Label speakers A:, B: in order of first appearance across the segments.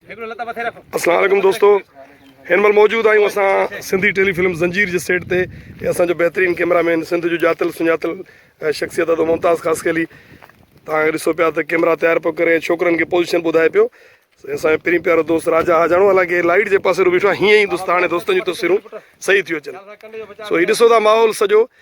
A: السلام عليڪم دوستو هن مهل موجود آهيون اسان سنڌي ٽيلي فلم زنجير جي سيٽ تي اسان جو بهترين ڪيمرا مين سنڌ جو ڄاتل سڃاتل شخصيت ادو ممتاز خاص کيلي تان ڏسو پيا ته ڪيمرا تيار پيو ڪري ۽ ڇوڪرن کي پوزيشن ٻڌائي پيو اسان جو پرين پيارو دوست راجا حاجاڻو حالانڪه لائيٽ جي پاسي رو بيٺو هيئن ئي دوست هاڻي دوستن جون تصويرون صحيح ٿيو اچن سو هي ڏسو ٿا ماحول سڄو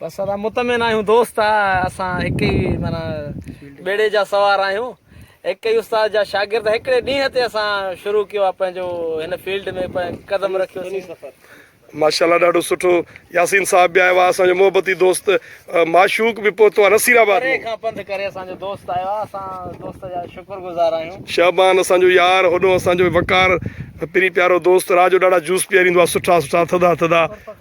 A: بس اسان مطمئن
B: آهيون دوست آ اسان هڪ ئي معنی ٻيڙي جا سوار آهيون هڪ ئي استاد جا شاگرد هڪڙي ڏينهن تي اسان شروع ڪيو آ پنهنجو هن فيلڊ ۾ قدم رکيو سين سفر ماشاءالله
A: ڏاڍو سٺو ياسين صاحب به آيو آ اسان جو محبتي دوست معشوق به پهتو آ نصير آباد پري کان پنڌ ڪري اسان
B: جو دوست آيو آ اسان دوست جا شڪر گذار آهيون شعبان اسان جو
A: يار هوڏو اسان جو وقار پرين پيارو دوست راجو ڏاڍا جوس پياريندو آ سٺا سٺا ٿڌا ٿڌا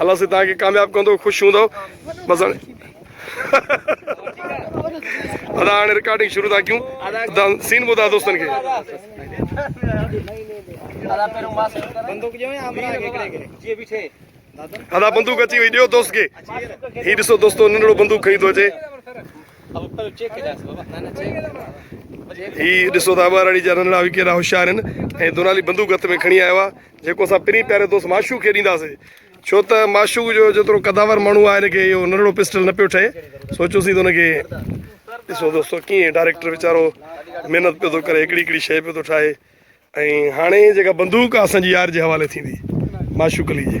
B: الله سائين تان کي
A: ڪامياب ڪندو خوش هوندو بس هاڻي ادا هاڻي رڪارڊنگ شروع ٿا ڪيون ادا سين ٻڌا دوستن کي ادا بندوق اچي وئي ڏيو دوست کي هي ڏسو دوستو ننڍڙو بندوق کڻي ٿو اچي هي ڏسو ته اباراڙي جا ننڍڙا به ڪيڏا هوشيار آهن ۽ دونالي بندوق هٿ ۾ کڻي آيو آهي جيڪو اسان پرين پياري دوست معشوق کي ڏينداسي ڇو ته معشوق جو جيترو قداور ماڻهو آهي ان کي اهو ننڍڙو پسٽل نه پيو ٺهي سوچيوسي ته ان کي ڏسو دوستو ڪيئن ڊائريڪٽر ويچارو محنت پيو ٿو ڪري هڪڙي هڪڙي شيء پيو ٿو ٺاهي ۽ هاڻي جيڪا بندوق آهي اسان جي يار جي حوالي ٿيندي معشوق علي جي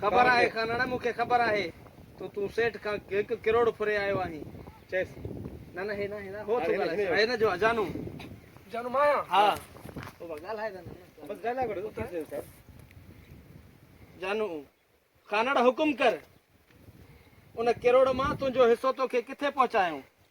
B: خبر آهي کانئڻ، مون کي خبر آهي ته تون سيٺ کان هڪ ڪروڙ ڦري آيو آهين. چيس، نه نه هي ناهي، هو ٿو ڳالهائي، سو هن جو اجانو. اجانو مان آهيان؟ ها. بابا ڳالهائي ته نه. بس ڳالهائي وٺ، ٿي سگهي ٿو. جانو، کانئڻ حڪم ڪر، ان ڪروڙ مان تنهنجو حصو توکي ڪٿي پهچايائون؟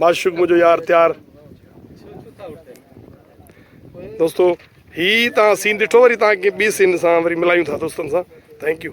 B: معشوق منهنجو يار تيار دوستو هي تان سين ڏٺو وري تان کي ٻي سين سان وري ملايون ٿا دوستن سان ٿينڪ يو